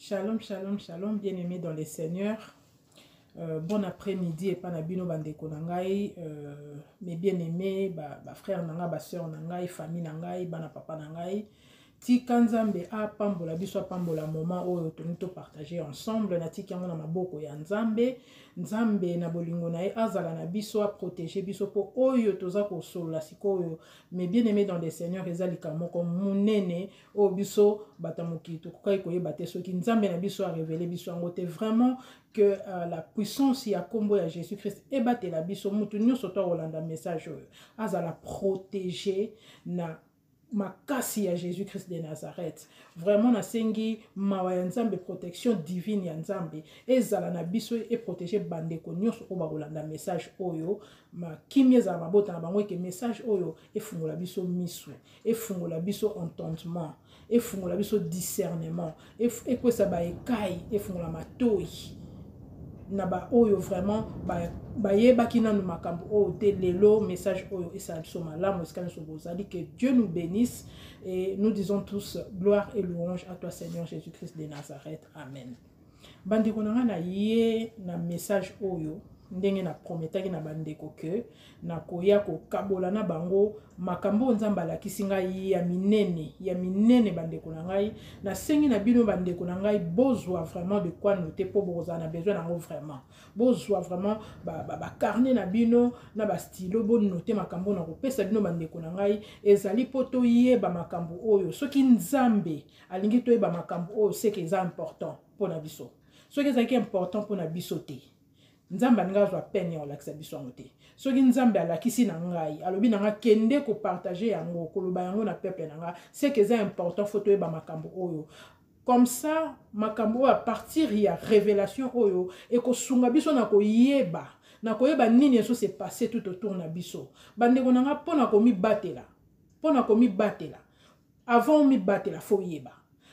Shalom, shalom, shalom, bien-aimés dans le Seigneur. Euh, bon après-midi epa na bino bandeko na ngai euh, mes bien-aimés bafrère ba na ngai basœur na ngai famille na ngai bana papa na ngai tika nzambe apambola biso apambola moment oyo tolingi topartage ensemble natiki yango na maboko ya nzambe nzambe na bolingo na ye azala na biso aprotege biso mpo oyo toza kosolola sikoyo mais bien aimé dans le seigneur eza likambo moko monene oyo biso bato ya mokili tokokaki koyeba te soki nzambe na biso arevele biso yango te vraiment que uh, la puissance ya nkombo ya jésus christ ebatela biso moto nyonso to akolanda message oyo azala protege na makasi ya jésus christ de nazareth vraiment nasengi mawa ya nzambe protection divine ya nzambe ezala na biso eprotege bandeko nyonso oyo bakolanda message oyo makimi ezala mabota na bango eke message oyo efungola biso miso efungola biso entendement efungola biso discernement ekwesa baekai efungola matoi na baoyo vraiment bayebaki nanu makambo oyo te lelo message oyo esala biso malamu esika nyonso bozali que dieu nous bénisse et nous disons tous gloire et louange à toi seigneur jésus-christ de nazareth amen bandeko na ngai naye na message oyo ndenge na prometaki na bandeko ke nakoya kokabola na bango makambo oyo nzambe alakisi ngai ya minene ya minene bandeko na ngai nasengi na bino bandeko na ngai bozwa vraiment de quoi note mpo bokozala na besoin na yango vraiment bozwa vraiment bacarne ba, ba na bino na bastilo bonote makambo oyo nakopesa bino bandeko na ngai ezali mpo toyeba makambo oyo soki nzambe alingi toyeba makambo oyo seke eza important mpo na biso soki ezalaki important mpo na biso te nzambe alingi azwa pene ya kolakisa biso yango te soki nzambe alakisi na ngai alobi na ngai kende kopartage yango koloba yango na peuple na ngai seke eza important fo toyeba makambo oyo comme ça makambo oyo apartir ya révélation oyo ekosunga biso na koyeba na koyeba nini ezo se passe tout autour na biso bandeko na ngai mpo na komibatela mpo na komibatela avant omibatela fo oyeba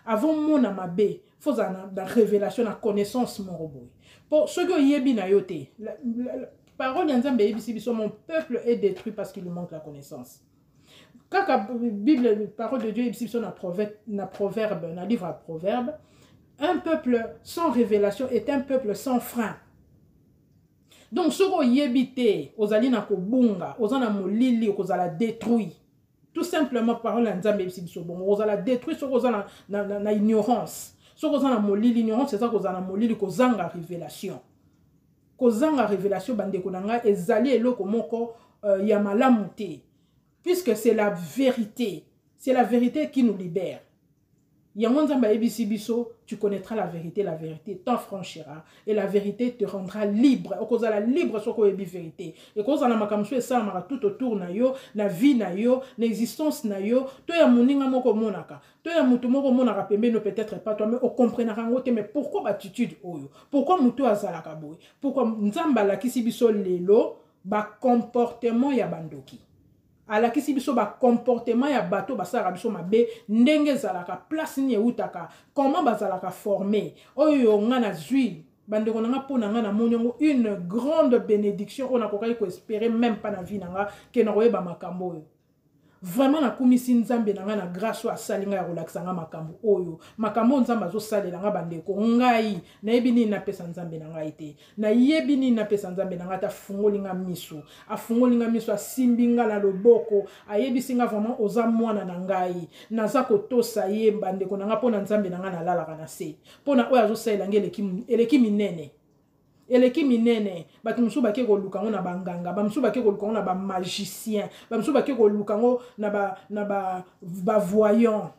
avant omona mabe fo ozala na, na révélation na connaissance moko boye mpo soki oyebi na yo te la, la, la, parole ya nzambe eyebisi biso mon peuple est détruit parce qu'il manque la connaissance kaka bible parole de dieu eyebisi biso na proverbe na, proverbe, na livre ya proverbe un peuple sans révélation est un peuple sans frein donc soki oyebi te ozali na kobunga oza na molili okozala détruit tout simplement parole ya nzambe eyebisi biso bongo kozala détruit soki oza na, na, na, na ignorance soki oza na molili ignorance eza kozala na molili kozanga révélation kozanga révélation bandeko na ngai ezali eloko moko euh, ya malamu te puisque c'est la vérité c'est la vérité qui nous libère yango nzambe ayebisi biso tu connaîtras la vérité la vérité t'affranchira et la vérité te rendra libre okozala libre soki oyebi vérité ekozala na makambo mosusu esalamaka tout autour na yo na vie na yo na existence na yo to ya moninga moko omonaka to ya moto moko omonaka pembeni peut-être pas toi mais okomprenaka yango te mais pourquoi battitude oyo pourquoi moto oyo azalaka boye pourquoi nzambe alakisi biso lelo bacomportement ya bandoki alakisi biso ba comportement ya bato basalaka biso mabe ndenge ezalaka place nini ewutaka comment bazalaka forme oyo nga nazwi bandeko na nga mpo na nga namoni yango une grande bénédiction oyo nakokaki koespere meme mpa na vie na nga ke nakoyeba makambo oyo vraiment nakumisi nzambe na ngai na grâce oyo asali ngai ya kolakisa ngai makambo oyo makambo oyo nzambe azosalela ngai bandeko ngai nayebi nini napesa nzambe na ngai te nayebi nini napesa nzambe na ngai ata afungoli nga miso afungoli nga miso asimbi nga na loboko ayebisi nga vraiment oza mwana na ngai naza kotosa ye bandeko na ngai mpo na nzambe na ngai nalalaka na se mpo na oyo azosalela ngai eleki, eleki minene eleki minene bato mosusu bake koluka yango na banganga bamosusu bake koluka yango na bamagicien bamosusu bake koluka yango na bavoyant ba, na ba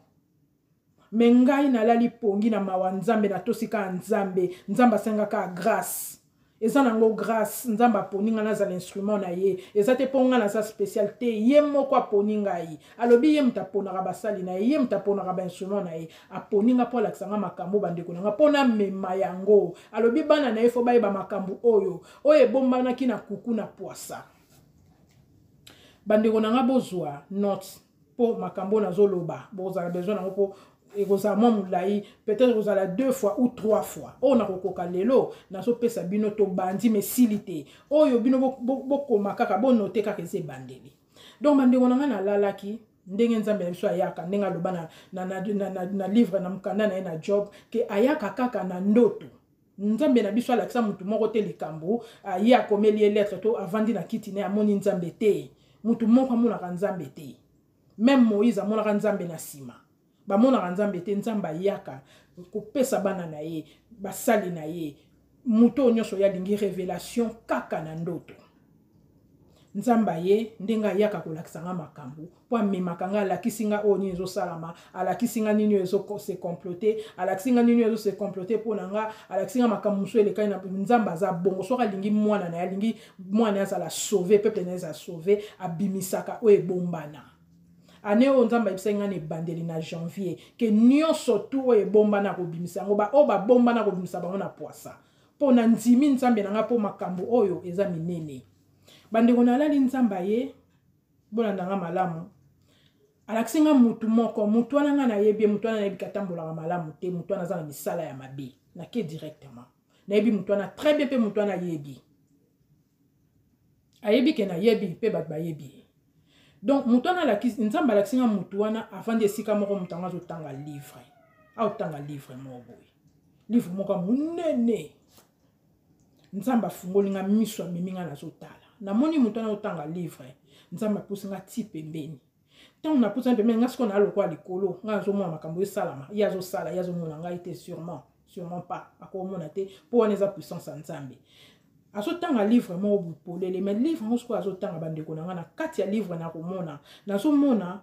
me ngai nalali pongi na mawa nzambe natosi kaka nzambe nzambe asenga kaka grace eza nango grace nzambe aponi ngai nazala instrument na ye eza te mpo ngai naza special te ye moko aponi ngai alobi ye moto aponaka basali na ye ye moto aponaka bainstrument na ye aponi ngai mpo alakisa ngai makambo bandeko na ngai mpo namema yango alobi bana na ye fo bayeba makambo oyo oyo ebombanaki na kuku na pwasa bandeko na ngai bozwa note mpo makambo oyo nazoloba bokozala besoin nango mpo ekozala mwa molai peut-être ekozala deux fois ou trois fois oyo nakokoka lelo nazopesa bino tobandi ma esili te oyo bino bokoma bo, bo kaka bonote kaka eza ebandeli donc bandeko na ngai nalalaki ndenge nzambe na biso ayaka ndenge aloba na, na, na, na, na, na livre na mokanda na ye na job ke ayaka kaka na ndoto nzambe na biso alakisa motu moko te likambo ah, ye akomeli ye lettre to avandi na kiti ne amoni nzambe te motu moko amonaka nzambe te meme moïse amonaka nzambe na nsima bamonaka nzambe te nzambe ayaka kopesa bana na ye basali na ye moto oyo nyonso oyo alingi revelation kaka na ndoto nzambe aye ndenge ayaka kolakisa nga makambo mpo amemaka nga alakisi nga oyo nini ezosalama alakisi nga nini oyo ezose complote alakisi nga nini oyo ezose complote mpo na nga alakisi nga makambo mosusu elekani na nzambe aza bongo soki alingi mwana na ye alingi mwana azala sauve peuple na ye eza sauve abimisaka oyo ebombana ane oyo nzambe ayebisaki ngai na ebandeli na janvier ke nyonso tu oyo ebombana akobimisa yango baoyo babombana akobimisa bango na pwasa mpo nandimi nzambe na ngai mpo makambo oyo eza minene bandeko nalali nzambe aye bolanda ngai malamu alakisi ngai motu moko motu wana ngai nayebi ye motu wana nayebi katambolaka malamu te motu wana aza na misala ya mabe nake directement nayebi motu wana très bien mpe motu wana ayebi ayebi ke nayebi mpe bato bayebi ye donc moto wana alakisi nzambe alakisi nga moto wana avandi esika moko moto yango azotanga livre aotanga livre moko boye livre moko monene nzambe afungoli nga miso amemi nga nazotala namoni moto wana otanga livre nzambe apusi nga ti pembeni ntango napusani pembeni ngai sikoyo naa lokola likolo ngai nazomona makambo esalama ye azosala ye azomona ngai te sûrement sûrement pas akomona te mpo wana eza puissance ya nzambe azotanga livre moko bopolele mai livre yango sikoyo azotanga bandeko na ngai na kati ya livre nakomona nazomona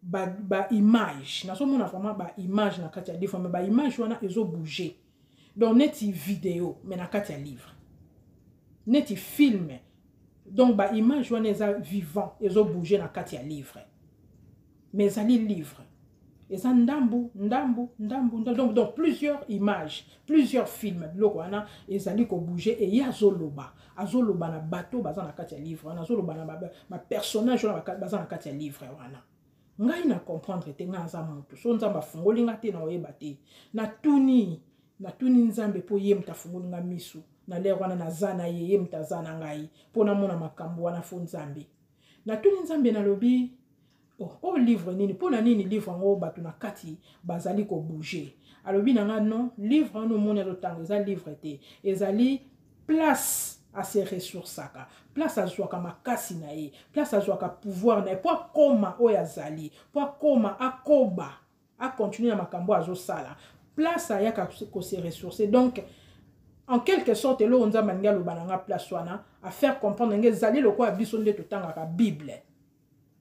baimage ba nazomona vraiment baimage na kati ya livre mai baimage wana ezobouge ba donc neti video mais na kati ya livre neti film donc baimage wana eza vivant ezobouge na kati ya livre mais ezali livre eza ndambu ndambu ndambu donc, donc plusieurs images plusieurs films biloko wana ezali kobouge eye azoloba azoloba na bato baza na kati ya livre wana azoloba na bapersonnage wana baza na kati ya livre wana ngai na comprendre te ngai naza moto so nzambe afungoli ngai te na oyeba te natuni natuni nzambe mpo ye moto afungoli ngai miso na lere wana naza na ye ye moto aza na ngai mpo namona makambo wana fo nzambe natuni nzambe nalobi o oh, oh, livre nini mpo na nini livre yango bato na kati bazali kobouge alobi na ngai non livre wana omoni azotanga eza livre te ezali place ase ressourcaka place azwaka makasi na ye place azwaka pouvoir na ye mpo akoma oyo azali mpo akoma akoba akontinue na makambo oyo azosala place ayaka kose ressource donc en quelque sorte eloko nzambe alingi aloba na nga place wana afaire comprendre nge ezali lokola biso nde totangaka bible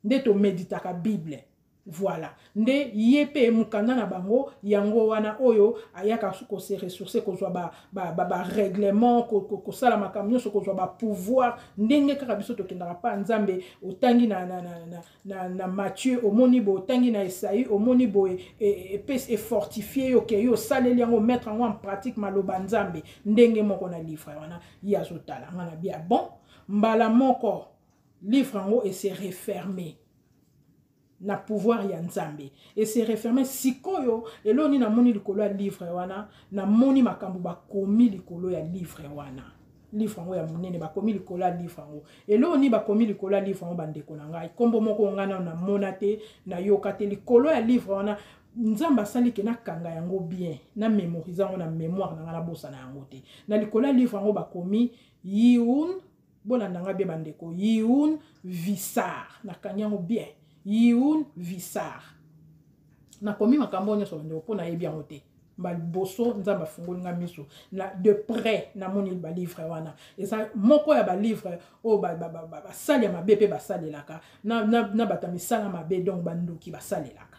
nde tomeditaka bible Voilà. Nde ye pe mukanda na bango yango wana oyo ayaka ko se ressourcer kozwa ba ba ba, ba règlement ko, ko, ko sala makambo nyonso kozwa ba pouvoir ndenge kaka biso tokendaka pa Nzambe otangi na na na na, na, na Matthieu omoni bo otangi na Esaïe omoni boye e, e, e fortifier yo ke yo saleli yango mettre yango en pratique maloba Nzambe ndenge moko na livre wana ye azotala ngana bia bon mbala moko livre yango e se refermer na pouvoir ya nzambe ese referme sikoyo eloo nini namoni likolo ya livre wana namoni makambo bakomi likolo ya livre wana livre yango ya monene bakomi likolo ya livre yango eloo nini bakomi likolo ya livre yango bandeko na ngai nkombo moko ngai nano namona te nayoka te likolo ya livre wana nzambe asali ke nakanga yango bien na memorise yango na memoire na ngai nabosana yango te na likolo ya livre yango bakomi yiun bolanda nga bien bandeko yiun visar nakangi yango bien yiun visar nakomi makambo oyo nyonso bandeko mpo nayebi yango te baliboso nzambe afungoli nga miso na de près namoni balivre wana eza moko ya balivre oyo basali ya mabe mpe basalelaka na, na, na bato ya misala mabe donc bandoki basalelaka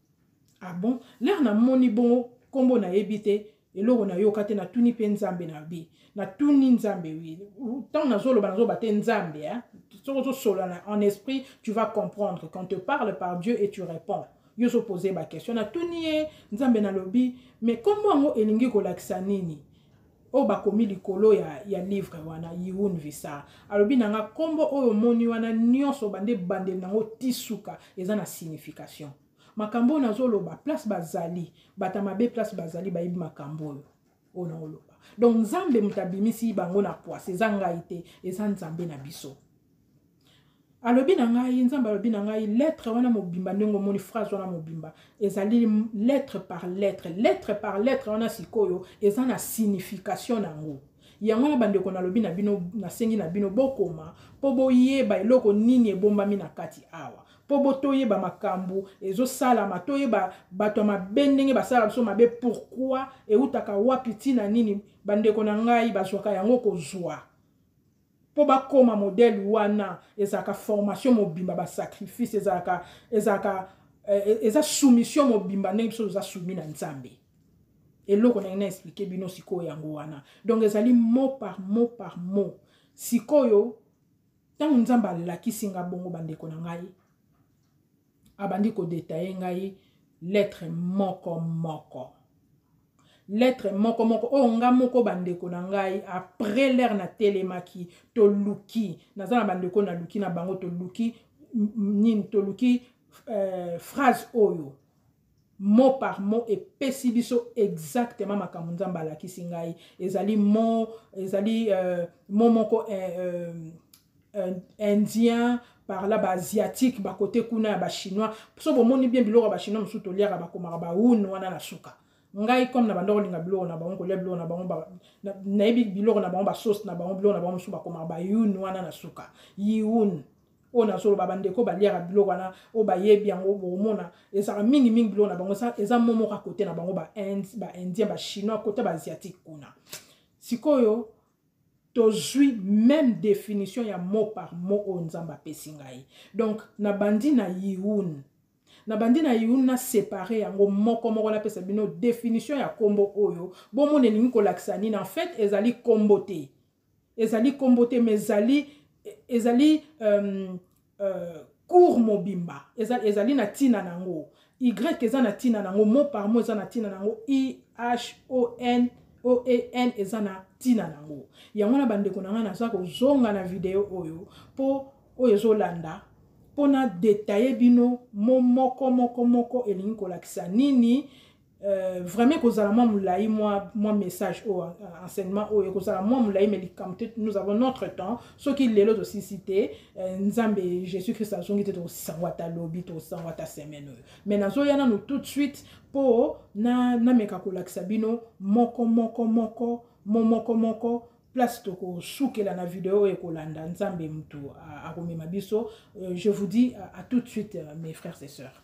ah bon lere namoni bongo nkombo nayebi te eloko nayoka te natuni mpe nzambe na bi natuni nzambe wi ntango nazoloba nazoloba te nzambe eh? soki ozosolana en esprit tu vas comprendre quand te parle par dieu et tu réponds yo ozopose baquestion natuni ye nzambe nalobi mais nkombo yango elingi kolakisa nini oyo bakomi likolo ya, ya livre wana yiun visa alobi na nga nkombo oyo omoni wana nyonso bande ebandeli nango ti suka eza na signification makambo oyo nazoloba place bazali bata mabe place bazali bayebi makambo oyo oyo naoloba donc nzambe moto abimisi bango na pwasi eza ngai te eza nzambe na biso alobi na ngai nzambe alobi na ngai lettre wana mobimba ndenge omoni phrase wana mobimba ezali lettre par lettre lettre par lettre wana sikoyo eza na signification na yango yango wana bandeko nalobi na bino nasengi na bino bokoma mpo boyeba eloko nini ebombami na kati awa mpo bo toyeba makambo ezosalama toyeba bato ya mabe ndenge basalaka biso mabe pourkui eutaka wapi ntina nini bandeko na ngai bazwaka yango kozwa mpo bakoma modele wana ezalaka formation mobimba basacrifice ezalaka ezalaka eh, eh, eza soumission mobimba ndenge biso toza soumi na nzambe eloko nange na explike bino sikoyo yango wana donc ezali mot par mot par mot sikoyo ntango nzambe alakisi nga bongo bandeko na ngai abandi kodetaye ngai lettre moko moko lettre moko moko oyo nga moko bandeko na ngai après l'heure natelemaki toluki naza na bandeko naluki na bango toluki nini toluki euh, phrase oyo mot par mot epesi biso exactement makambo nzambe alakisi ngai ezali mo ezali euh, mo moko euh, euh, indien par là baasiatique bakote kuna ya bachinois so bomoni bien biloko ya bachinois mosusu toliaka bakomaka baune wana na suka ngai comme na banda kolinga biloko na bango kolia biloko na bango nayebi biloko na bango basauce na bango biloko na bango mosusu bakomaka baune wana na suka yiune oyo nazoloba bandeko baliaka biloko wana oyo bayebi yango bokomona ezalaka mingimingi biloko na bango eza momoka kote na bango baindien bachinois kote baasiatique kuna sikoyo tozwi meme définition ya mot par mot oyo nzambe apesi ngai donc nabandi na yiun nabandi na yiun na sépare yango moko moko napesa bino définition ya nkombo oyo bomona elingi kolakisa nini en fait ezali nkombo te ezali nkombo te ma ezali ezali um, uh, cour mobimba ezali, ezali na ntina na yango y eza na ntina na yango mo par mo eza na ntina na yango ihon oen eza na ntina na yango yango na bandeko na ngai naza kozonga na video oyo mpo oyo ezolanda mpo na detaye bino mo moko moko moko elingi kolakisa nini Euh, vraiment ekozala mwa molai mwa, mwa message oyo euh, enseignement oyo ekozala mwa molai me likambo te nous avons notre temps soki lelo tosisi te euh, nzambe jésus christ azongi te tokosango ata lobi tokosango ata semaine oyo me nazoya nano tout de suite mpo nameka na kolakisa bino moko moko moko momoko moko place tokosukela na video oyo ekolanda nzambe motu akomema biso je vous dis à, à tout de suite mes frères et sœurs